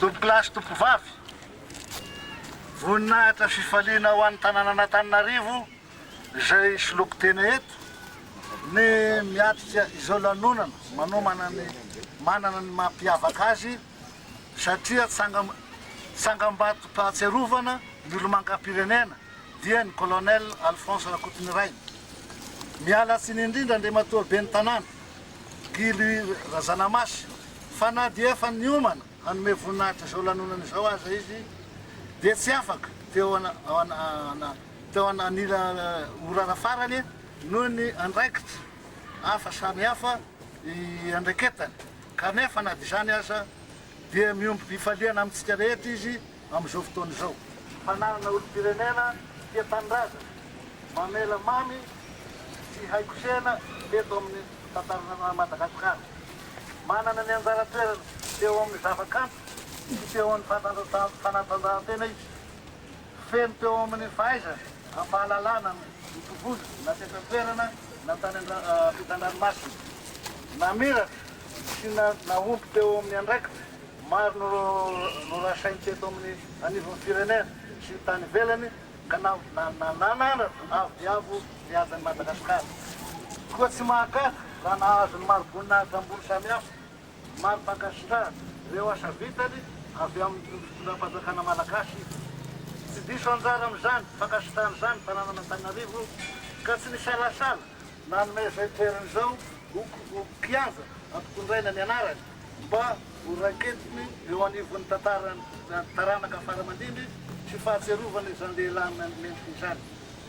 Tomponkolahy sy Tompovavy, voninahitra fifaliana ho an'ny tanànan'Antananarivo izay soloiko tena eto ny miatrika izao lanonana manomana ny manana ny mampiavaka azy satria tsangam-batom-pahatsiarovana ny olomangam-pirenena dia ny Colonel Alphonse Rakotonirainy. Miala tsiny indrindra Andriamatoa Ben'ny Tanàna, Guy Louis Razanamasy, fa na dia efa niomana hanome voninahitra izao lanonana izao aza izy dia tsy afaka teo anila orara farany noho ny andraikitra hafa samihafa iandraiketany. Kanefa na dia izany aza, dia miompy fifaliana amintsika rehetra Izy amin'izao fotoana izao. Fananana olom-pirenena tia tanindrazana, mamela mamy sy hay kosehina eto amin'ny tantaran'i Madagasikara. Manana ny anjara toerany teo amin'ny zavakanto sy teo amin'ny fanatanjahantena Izy. Feno teo amin'ny fahaiza am-pahalalana ny tovovavy na teto an-toerana na tany ampitan-dranomasina. Namiratra sy nahomby teo amin'ny andraikitra maro norasainy teto amin'ny anivon'ny firenena sy tany ivelany ka nananatra avo dia avo ny hajan'i Madagasikara. Koa tsy mahagaga raha nahazo ny mari-boninahitra ambony samihafa. Maro mpankasitrahana ireo asa vitany avy amin'ny fitondram-panjakana malagasy. Tsy diso anjara amin'izany fankasitrahana izany ny tanànan'Antananarivo ka tsy nisalasala nanome izao toerana izao ho kianja hampitondraina ny anarany mba ho raiketiny eo anivon'ny tantaran'ny taranaka faramandimby sy fahatsiarovana izany lehilahy mendrika izany.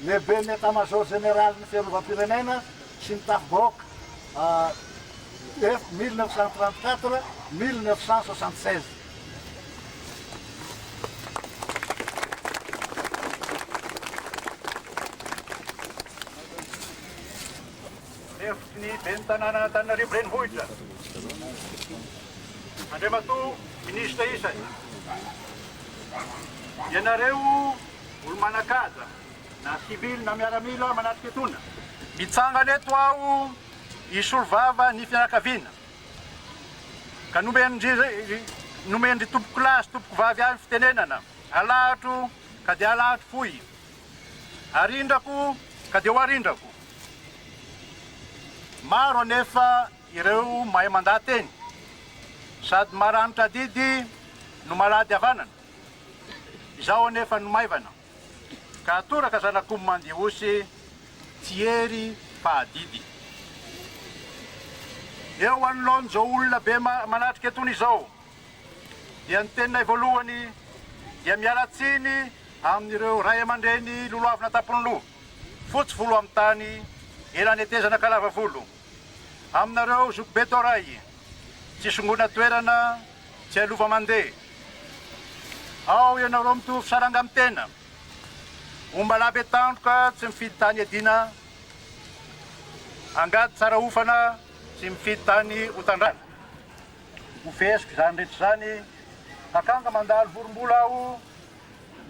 Lehiben'ny Etamazaoro Jeneralin'ny Fiarovam-pirenena sy ny Tafibahoaka, F 1934, 1976. Lefitry ny Ben'ny Tanànan'Antananarivo Renivohitra, Andriamatoa Minisitra isany, ianareo. Olo-manan-kaja, na sivily na miaramila manatrika etona. Mitsangana eto aho hisolo vava ny fianakaviana ka nomen-dry tompokolahy sy tompokovavy ahy ny fitenenana, alahatro ka dia alahatro fohy, arindrako ka dia ho arindrako. Maro anefa ireo mahay mandà teny, sady maranitra adidy no malady havanana. Izao anefa no maivana, ka atoraka zanak'omby mandia osy tsy hery fa adidy. Eo anoloan'izao olona be manatrika etony izao, dia ny teninay voalohany dia miala tsiny amin'ireo ray aman-dreny lolohavina tampon'ny loha, fotsy volo amin'ny tany, ela netezana ka lava volo. Aminareo zokibe Toray, tsy songona toerana, Tsialova mandeha. Ao ianareo mitovy saranga amin'ny tena. Ombalahy be tandroka tsy mifidy tany iadiana, angady tsara hofana tsy mifidy tany hotandrana. Ho feheziko izany rehetra izany, akanga mandalo vorombola aho.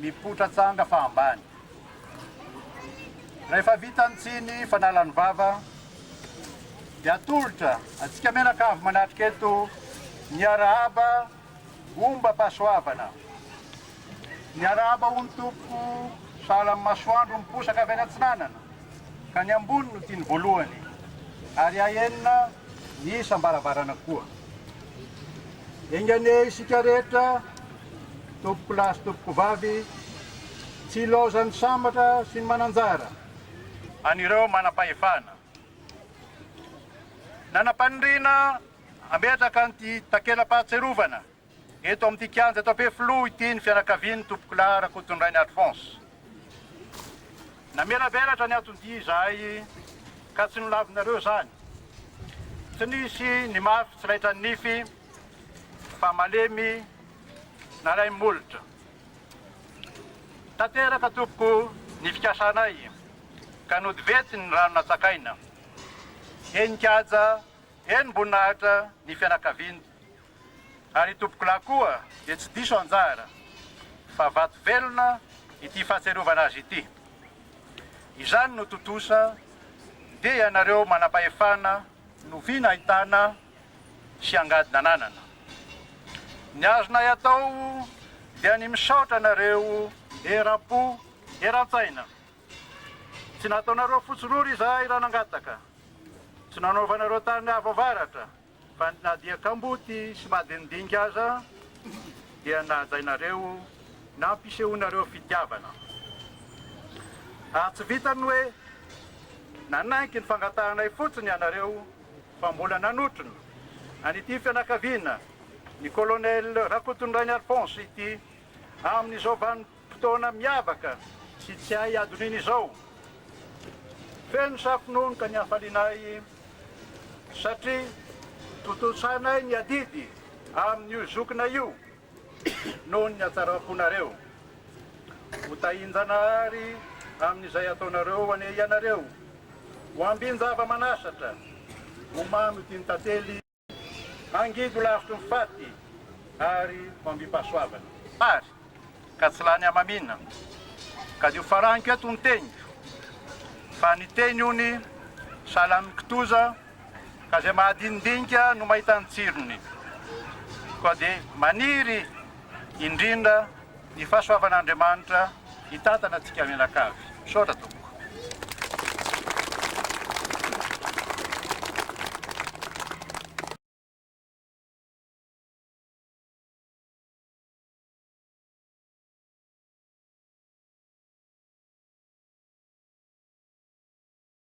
Mipoitra tsanga fa ambany. Rehefa vita ny tsiny fanalan'ny vava dia atolotra antsika menaka avy manatrika eto miarahaba omba pasoavana. Miarahaba hono tompoko sahala amin'ny masoandro miposaka avy any atsinanana ka ny ambony no tiany voalohany ary ahenina ny isam-baravarana koa. Enga anie isika rehetra. Tompokolahy sy tompokovavy, tsy ilaozan'ny sambatra sy ny mananjara. An'ireo manam-pahefana. Nanam-paniriana hametraka an'ity takela-pahatsiarovana eto amin'ity kianja eto Ampefiloha ity ny fianakavian'ny Tompokolahy Rakotondrainy Alphonse. Namelabelatra ny anton-dia izahay ka tsy nolavinareo izany. Tsy nisy ny mafy tsy laitran'ny nify. fa malemy nalaim molotra tanteraka tompoko ny fikasanay ka nody vetsy ny rano natsakaina eny Nkaja eny Mboninahitra ny fianakaviany ary tompokolahy koa dia tsy diso anjara fa vato velona ity fahatsiarovana azy ity izany no tontosa dia ianareo manam-pahefana no vina ahitana sy angady nananana. Ny azonay atao dia ny misaotra anareo eram-po eran-tsaina. Tsy nataonareo fotsy rora izahay raha nangataka, tsy nanaovanareo tany avo avaratra fa na dia kamboty sy madinidinika aza dia nahajainareo nampisehoanareo fitiavana. Ary tsy vitan'ny hoe nanaiky ny fangatahanay fotsiny ianareo fa mbola nanotrona an'ity fianakaviana ny Colonel Rakotondrainy Alphonse ity amin'izao vanim-potoana miavaka sy tsy hay hadonina izao. Feno safononoka ny hafalianay satria tontosainay ny adidy amin'io zokinay io. noho ny hatsaram-ponareo. Ho tahin-Janahary amin'izay ataonareo anie ianareo. Ho ambin-java-manasatra, ho mamy tia ny tantely, hangidy ho lavitry ny faty ary ho ambim-pahasoavana. Ary ka tsy lany hamamiana, ka dia ho faraniko eto ny teniko, fa ny teny ony sahala amin'ny kitoza ka izay mahadinidinika no mahita ny tsirony, koa dia maniry indrindra ny fahasoavan'Andriamanitra hitantana antsika mianakavy. Misaotra Tompoko.